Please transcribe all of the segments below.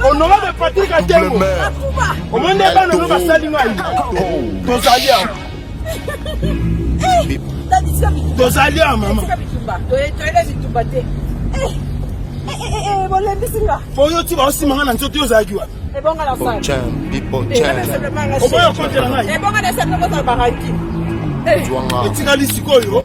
honorable patrik atengo omoni nde bana oyo basali ngai tozali awa tozali awa mama oyo ti baosimba ngai na nzoto yo ozalaki wapi oboya kotela ngai etikali sikoyo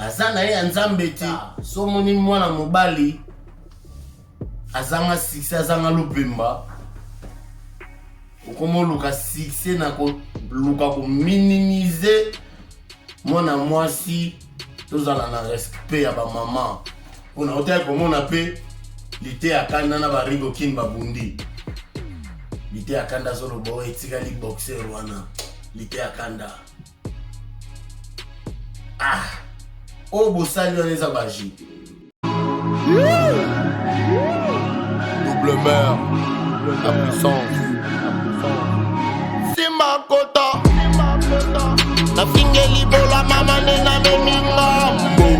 aza na ye ya nzambe te so omoni mwana mobali azanga succès azanga lupemba okomoluka succès na koluka kominimize mwana mwasi tozala na respect ya bamama mpona otaki komona mpe lite ya kanda na barigo kini babundi lite ya kanda azoloba oyo etikali boxeur wana lite ya kanda ah oyo bosali wana eza magie double mère la puissance simba kota nafingeli bola mama nde namemi ngambo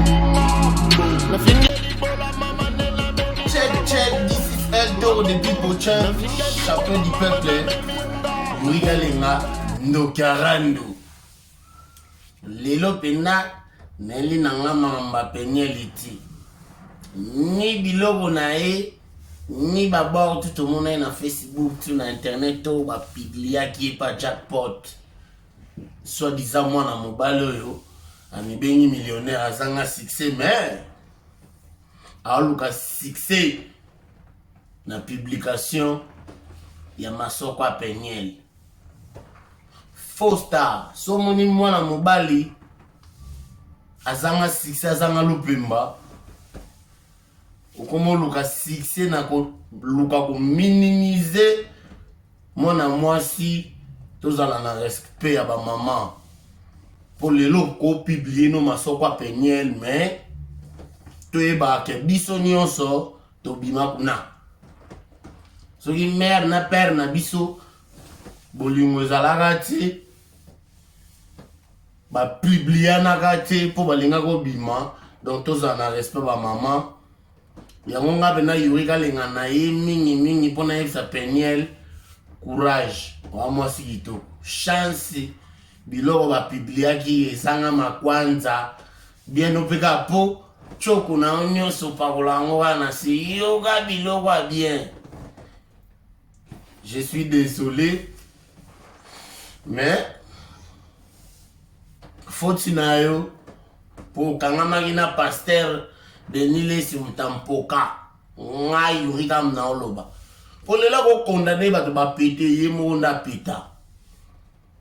Eldo de Bipochen, champion du peuple, Muriga Lenga, ndoki ya randu lelo mpenza nayeli na nga makambo ya penieli ti ni biloko na ye ni babor tu tomona ye na facebook tu na internet to bapibliaki ye pa jackpot soit disant mwana mobali oyo amibengi millionnaire azanga succès mais aoluka succès na publication ya masoko ya peniele faux star so omoni mwana mobali azanga succès azanga lupemba okomoluka succès na koluka kominimize mwana mwasi tozala na respect ya bamama mpo lelo kopiblie no masoko ya peniel mais toyebaka ke biso nyonso tobima kuna soki mare na pere na biso bolingo ezalaka te bapublianaka te mpo balinga kobima donc tozala na respect bamama yango nga mpe na yuri kalenga na ye mingimingi mpo nayebisa peniel courage oa mwasi kitoko chance biloko bapibliaki ezanga makwanza Bien opeka po tshoko na yo nyonso opakola yango kaka na se yoka biloko ya bien je suis désolé mais foti na yo po okangamaki na pasteur denis lesi mutampoka ngai yurika mna oloba po lela kokondane bato bapete ye moko nda peta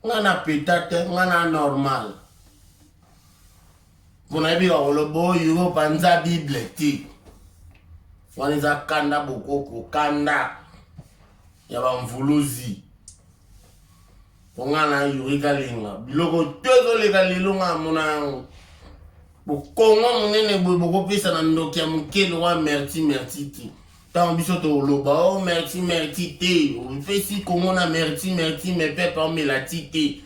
ngai na peta te ngai na normal mpona yebi bakoloba oyo panza bible te wana eza kanda bokoko kanda ya bamvuluzi mpo ngai na yuri kalinga biloko to ezoleka lelo ngai amona yango bokongo monene boye bokopesa na ndoki ya moke lokola merti merti te Tant biso toloba oh merci merci te opesi kongo na merci merci me pepe omela ti te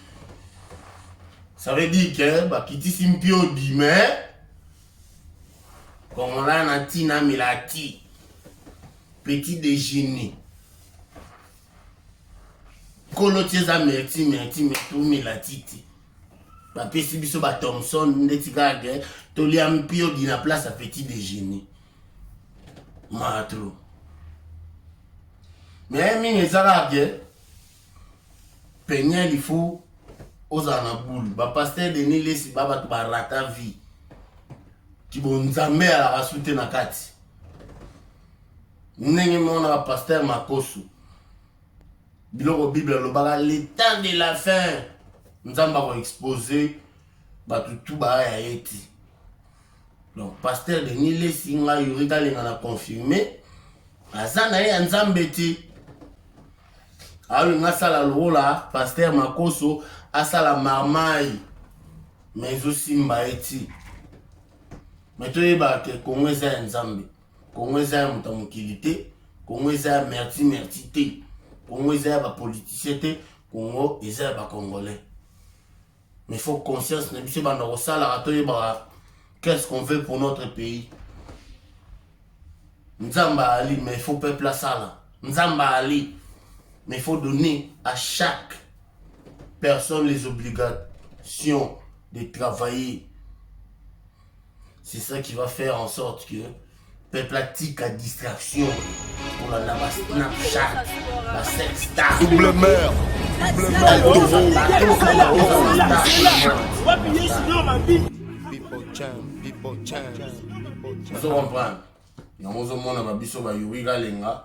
ça veut dire que bakitisi mpiodi mais kongola na ntina amela ti petit déjeuner nkolo ti eza merci merci me tomela ti te bapesi biso bathomson ndeti kaka tolia mpiodi na place ya petit déjeuner maa trop mais mingi ezalaka ke peniel il faut ozala na boule bapaster denis lesi ba bato barata vie kibonzambe alaka su te na kati ndenge mona bapaster makosu biloko bible alobaka le temps de la fin nzambe akoexpose bato tu baya ya ye ti donc pasteur denis lesi ngai yuri kalenga na confirme aza na ye ya nzambe te aolinga asala lokola pasteur makoso asala marmai ma ezosimba ye ti ma toyebaka ke kongo eza ya nzambe kongo eza ya moto ya mokili te kongo eza ya merci merci te kongo eza ya bapoliticien te kongo eza ya bacongolais mais faut conscience na biso ebanda kosalaka toyebaka qu'est-ce qu'on veut pour notre pays nzambe ali mais faut peuple asala nzambe ali mais faut donner à chaque personne les obligations de travailler C'est ça qui va faire en sorte que peuple atika distraction kolanda ba snapchat ba sexta double mère double mère ozo comprendre yango ozomona babiso bayuri kalenga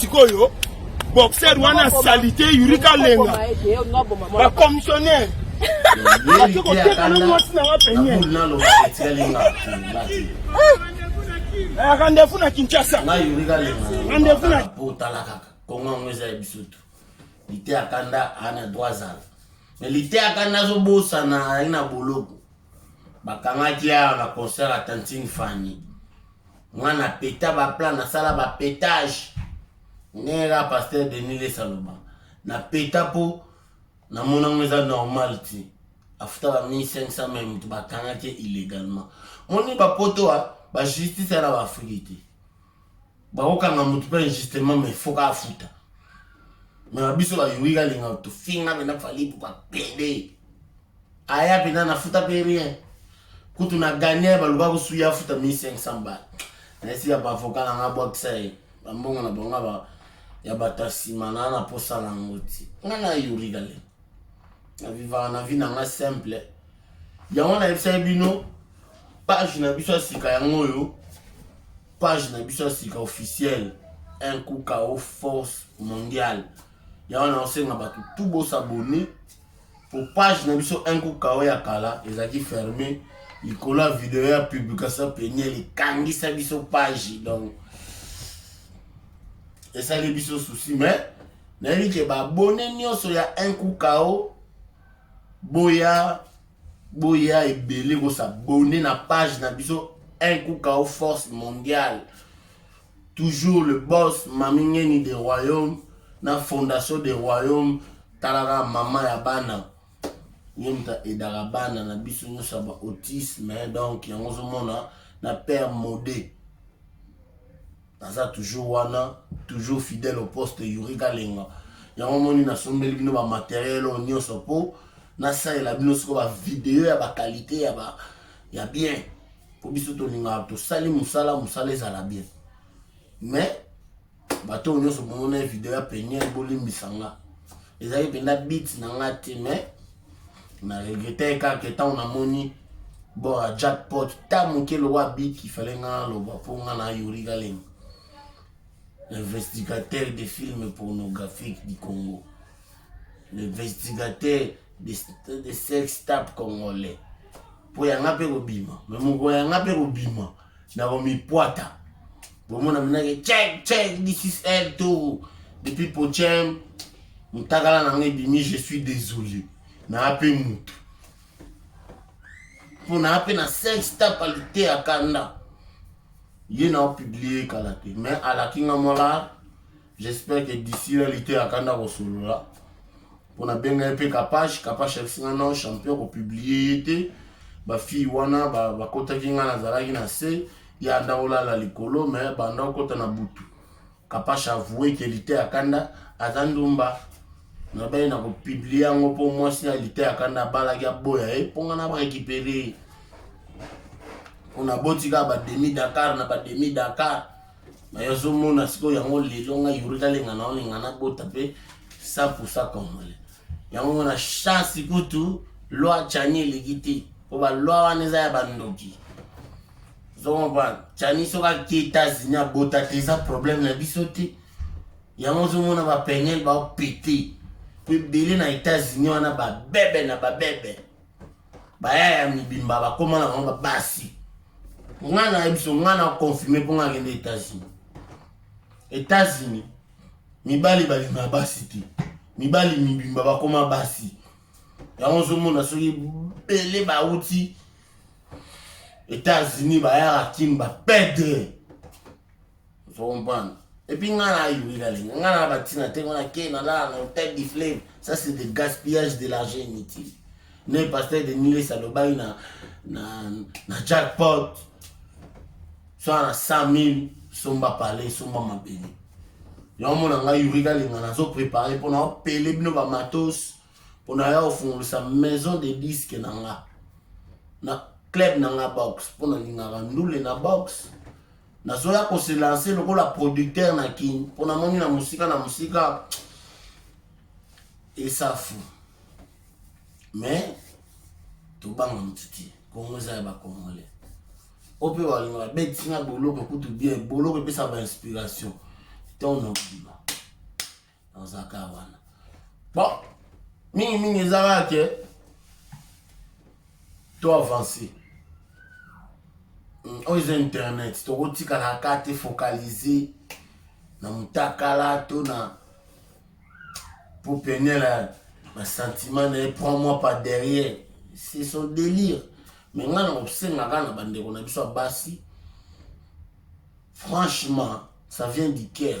sikoyo boxer wana salite yurika lenga bakomissionnaire ake koteka na mwasi nanga penye rendez-vous na kinshasa rendez-vous na kongo yango eza ya biso tu lite akanda ana droit azala me lite akanda azobosana ali na boloko bakangaki awa na concert ya tantine fani mwana peta ba plan nasala ba petage ndenge kaka pasteur denis lesa aloba na peta mpo namona yango eza normal te afuta ba 1500 mai moto bakangaki illegalement moni bapoto wa bajustice ya na baafrike te bakokanga moto mpe injustement mai foka afuta mai biso bayoki kalinga tofinga mena fali mpo bapede Aya pena na futa pe rien. Kutu na gagner ba luka ko suya futa 1500 ba. Na esi ya ba avocat na nga bwa kisa ye. Ba mbongo na bonga ba ya bato ya sima na na posa na ngo ti. Nga na yuri gale. Na viva na vie na nga simple. Ya wana yebisa bino page na biso ya sika yango oyo page na biso ya sika officiel un coup kao force mondiale ya wana osenga bato tu bosabone Po page na biso un coup kao ya kala ezalaki ferme likolo ya video ya publication peniel ekangisa biso page donc esali biso souci mais nayebi ke babone nyonso ya un coup kao boya boya ebele kosabone na page na biso un coup kao force mondiale Toujours le boss mami ngeni de royaume na fondation de royaume tala kaka maman ya bana ye moto aidaka bana na biso nyonso ya ba autisme donc yango ozomona na père mode aza toujours wana toujours fidèle au poste yuri kalenga yango omoni nasombeli bino ba materiel oyo nyonso mpo nasalela bino siko ba video ya ba qualité ya ba ya bien mpo biso tolingaka tosali mosala mosala ezala bien mais bato oyo nyonso bomona ye video ya peniel bolimbisa nga ezalaki mpenza bit na nga te mais na regretaki kaka ntango namoni bon ya jackpot ta moke lokola bit ifale nga naloba mpo nga na yori kalenga investigateur de filme pornographique du congo l'investigateur de, de sex tap congolais mpo yanga mpe kobima me moko yanga mpe kobima na komipwata bomona minake check check this is l to depuis pochem motakala na yango ebimi je suis désolé naa mpe motu mpo naa mpe na sex tap alite ya kanda ye na opiblie kala te mais alaki nga mwalaa j'espère que d'ici là lite akanda kosolola mpo nabenga ye mpe kapash kapash ayebisi nga non champion kopublie ye te bafille wana bakotaki ba ngai nazalaki na se ye anda olala likolo me banda okota na butu kapash avoue ke lite akanda aza ndumba nabai na kopublie yango mpo mwasi ya lite akanda abalaki aboya ye mpo ngai na barekipere mpo naboti kaka bademi dakar na bademi dakar mais azomona sikoyo yango lelo ngai yuri nalinga na olinga nabota mpe sapusa congolais yango na chance kutu loi chani eleki te mpo baloi wana eza ya bandoki ozokomprendre chani soki ake etats-unis abota te eza problème na biso te yango ozomona bapenel baopete mpo ebele na états-unis wana babebe na babebe baya ya mibimba bakoma na bango babasi ngai nayebi biso ngai na confirme mpo ngai akende états-unis états-unis mibali balinga basi te mibali mibimba bakoma basi yango ozomona soki ebele bauti états-unis bayaka kin bapedre ozo comprendre epuis ngai na ayuri lalinga ngai na batina te ngona ke nalala na hotel du fleuve ça c'est de gaspillage de l'argent inutile ne pasteur de niles alobaki na, na, na jackpot soa na 100 000 somba pale somba mabele yango mona ngai yuri kalinga nazo prépare mpo na opele bino bamatos mpo na ya ofungolisa maison de disque na nga na club na nga box mpo nalingaka ndule na box nazoya ko se lancer lokola producteur na kin mpo namoni na mosika na mosika esafu mais tobanga motu te kongo eza ya bakongole o mpe balinga babeti na boloko kutu bien boloko epesa bainspiration ntango na kobima ozaka wana bon mingi mingi eza kaka ke to avance hmm, oyo eza internet tokotikala ka te focalise na mutakala to na pour peine la basentiment na ye prend moi par derrière c'est son délire mais ngai nakosengaka na bandeko na biso ya basi franchement ça vient du cœur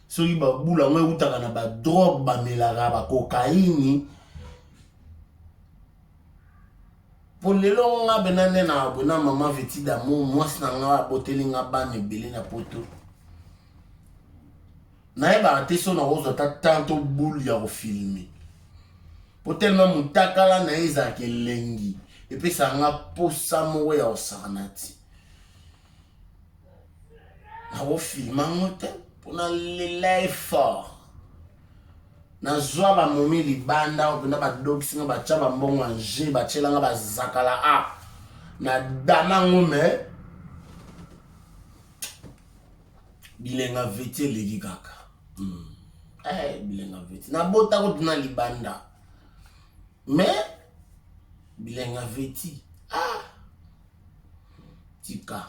soki babula yango ewutaka na badrogue bamelaka bakokaini mpo lelo nga bena nde na abona mama veti damour mwasi na nga aboteli nga bana ebele na poto nayebaka te so nakozwa ata temps to boule ya kofilme mpo telema motakala na ye ezalaka elengi epesaka nga mposa moko ya kosakana ti nakofilma ngo te mpo nalela ye fort nazwa bamomi libanda oyo mpenza badokisi nga batya bambongo ya je batyela nga bazakala a ah, na dama ngo me bilenga veti eleki kaka mm. hey, eh, bilenga veti nabota kutu na libanda me bilenga veti ah. tika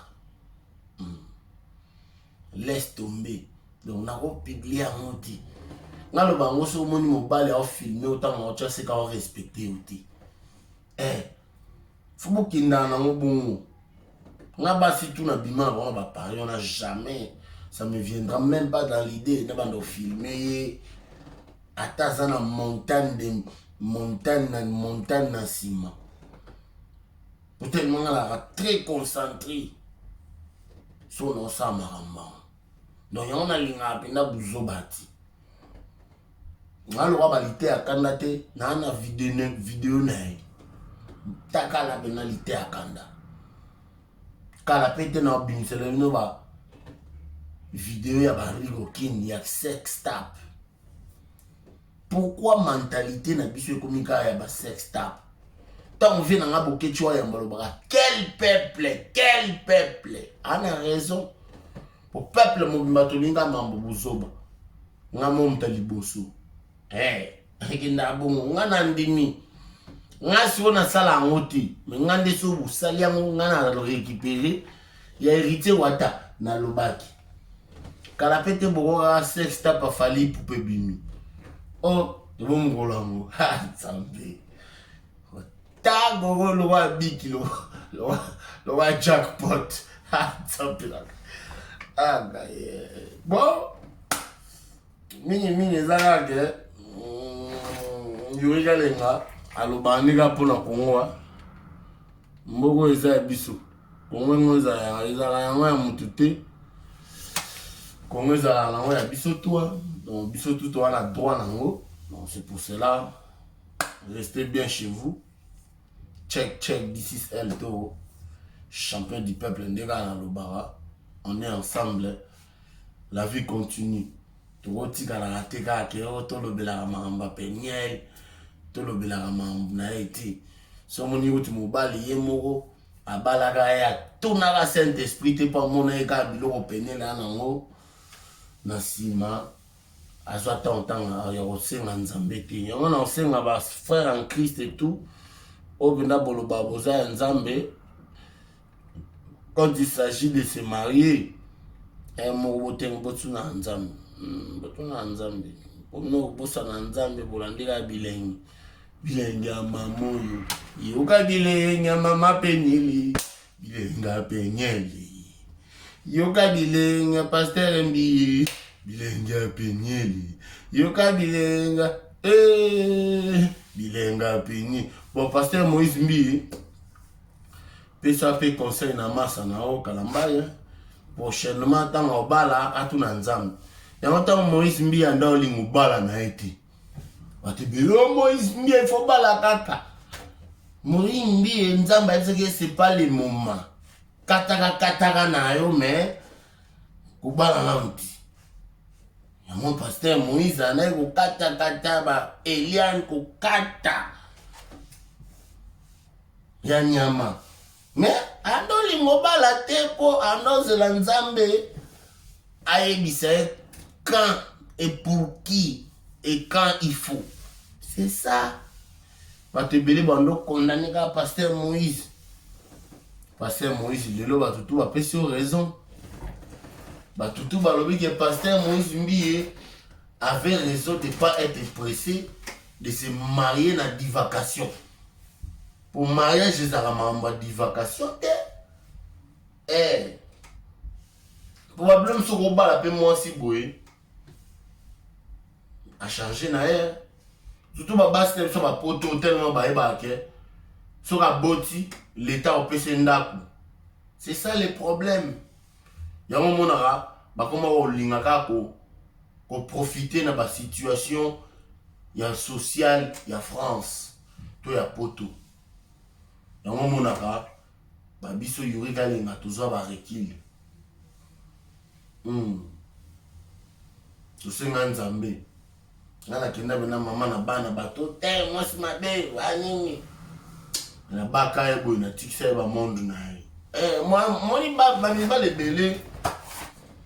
hmm. laisse tomber donc nakopublie yango te nga loba yango soki omoni mobali aofilme otanga otya seka orespecte yo te eh, fo bokendana nango bongo nga basi tu na bima na bango bapari wana jamais ça me viendra même pas dans l'idée na banda ofilme ye ata aza na montagne de montagne na montagne na nsima Peut-être moi là très concentré sur nos ça maramba. Donc on a linga penda buzobati. Ngalo ba lite akanda te na na vidéo vidéo na ye. Taka la penda lite akanda. Kala pete na binsele no ba vidéo ya ba Rigo King ya sex tap. Pourquoi mentalite na biso ekomi kaka ya ba sex tap? Tango vie na nga boketshi wa yamba lobaka quel peuple quel peuple ana raison po peuple mobimba tolinga mambo buzoba nga momta liboso eh ekenda bongo nga na ndimi nga siko nasala yango te me nga nde so bosali yango nga na récupérer Ya heritier wata nalobaki kala pe te boko kaka sex tapa fali ipupa ebimi o oh, ebo mokolo yango nzambe tago lokola abiki lokola jackpot nzambelaka aga bon mingi mingi eza kaka ke mm, yuri kalenga alobaka ndika mpo na kongo mboka eza ya biso Kongo yango ezala yanga ezalaka yango ya mutu te Kongo ezalaka nango ya biso toi donc biso tout toa na droit nango donc c'est pour cela restez bien chez vous check check this is L Toro champion du peuple nde kaka nalobaka on est ensemble la vie continue tokotikalaka te kaka ke o tolobelaka makambo ya peniel tolobelaka makambo na ye te so omoni kuti mobali ye moko abalaka ye atunaka saint esprit te mpo amona ye kaka biloko pene na yango na nsima azwa ntango ntanga ya kosenga nzambe te yango na kosenga bafrère en christ etout oyo mpenza boloba boza ya nzambe quand il s'agit de se marier eh, moko botengo botuna ya nzambe hmm, botuna ya nzambe mpo bino kobosana nzambe bolandela ya bilengi Bilenge ya mama oyo yoka bilenge ya mama penyeli bilenge ya penyeli yoka bilenge ya pastere mbili bilenge ya penyeli yoka bilenga ee eh, bilenga ya penyeli bon pastere moïse mbii pesa mpe conseil na masa na yo kalambaye prochainement ntango obala atuna nzambe yango ntango moïse mbii anda olinga obala na ye te Batibelo Moïse Mbie faut bala kaka. Moïse Mbie Nzambe ayebisaki ye c'est pas le moment. Kataka kataka na yo mais kobala na mpi. Yango pasteur Moïse anaye kokata kata ba Eliane kokata ya nyama. Mais ando lingo bala te po ando zela nzambe ayebisa ye quand et pour qui et quand il faut. C'est ça. bato ebele bando condamne kaka pasteur moïse pasteur moïse lelo bato tu bapesi yo raison bato tu balobi ke pasteur moïse mbiye avait raison de pas être pressé de se marier na divacation Po mariage ezalaka makambo ya divacation te. Eh. Po ba blom soko obala pe mwasi boye. A changer na ye. Surtout ba basi na biso ba poto tellement ba yeba ke soki aboti l'etat opesi ndaku. C'est ça le problème. Yango omonaka bakoma kolinga kaka ko koprofite na basituation ya sociale ya France to ya Poto. Yango omonaka babiso Yuri Kalenga tozwa barekile hmm. tosenga Nzambe nga na kenda bena mama na bana bato te mwasi mabe wa nini na baka ye boye na tikisa ye ba monde na ye eh, moni bamibala ebele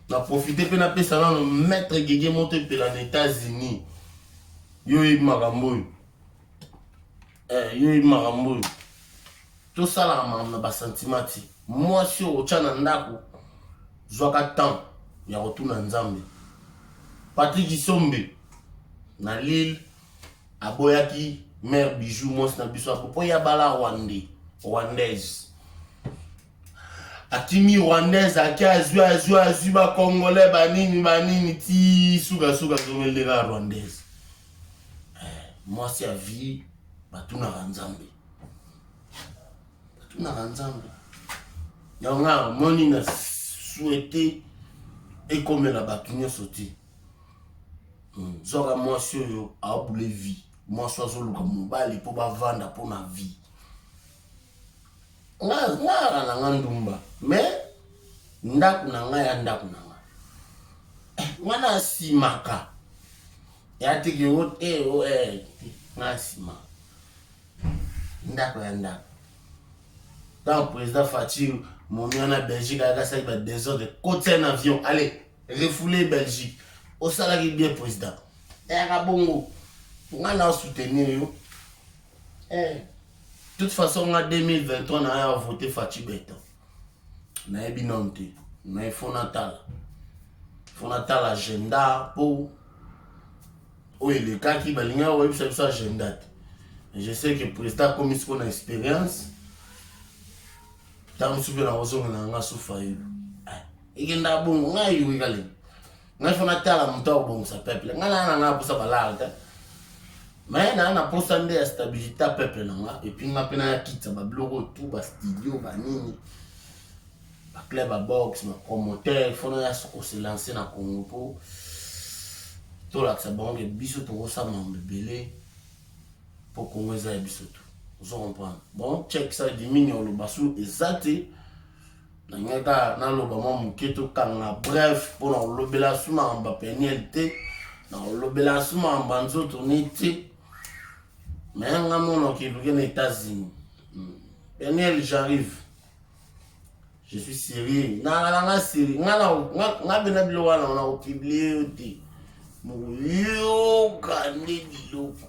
na profite mpe napesa nano maître gege moto epela na états-unis yo oyebi makambo oyo eh, yo yebi makambo oyo tosalaka makambo na basantima ti mwasi oyo otya na ndako zwaka temps ya kotuna nzambe patrik kisombe na lille aboyaki mare bijou mwasi na biso apo mpo ya bala rwande rwandaise akimi rwandaise ake azwi azwi azwi bakongole banini banini ti sukasuka zomeleka rwandaise eh, mwasi ya vie batunaka nzambe batunaka nzambe yango nga moni na souhaite ekomela bato nyonso te hmm, zwaka mwasi oyo aobule vie mwasi azoluka mobali mpo bavanda mpo na vie Nga nga yaka na nga ndumba mais ndaku na nga ya ndaku na nga eh, nga na simaka ya tiki o te o eh nga sima ndaku ya ndaku tant président Fatshi momi wana Belgique ayaka asaki ba désordre kotisa na avion allez refoule Belgique osalaki bien président ayaka bongo nga na soutenir yo Eh. Toute façon nga 2023 na ya voter Fatshi Beton. Na yebi non te. Mais faut na tala. Faut na tala agenda po oyo elekaki balingi oyebisa biso agenda te. Je sais que président akomi siko na expérience. Tango supe na ozongela nga sufa yelo. Ekenda bongo nga yoki kalenga. ngai fo natala moto akobongisa peuple ngai naa na ngai aposa balare te mais naa na posa nde ya stabilité ya peuple na nga epuis nga mpe nayakitisa babiloko tu bastudio banini baclub ya box bapromoteur fo naya koselance na congo mpo tolakisa bango ke biso tokosala mambo ebele mpo congo eza ya biso tu ozo comprendre bon check ça dimini oloba su eza te nalingai kaka naloba mwa moke tokanga bref mpo na kolobela su makambo ya peniel te na kolobela su makambo ya nzoto ne te me nga mona okeluke na états-unis hmm. peniel j'arrive je suis sérieux nangala nga sérieux nga bena biloko wana ona kopiblie yo te moyoka nde biloko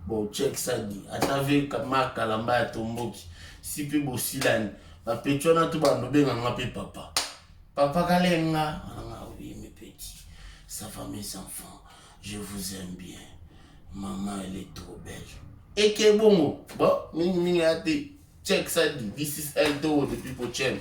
bochekisadi ata ve mark kalamba ya tomboki si mpe bosilani Ba petit wana tout bando benga nga pe papa. Papa Kalenga, ah oui mes petits, ça va mes enfants, je vous aime bien. Maman elle est trop belle. Et que bon, bon, mingi mingi ate, check ça dit, this is Eldo, the people channel.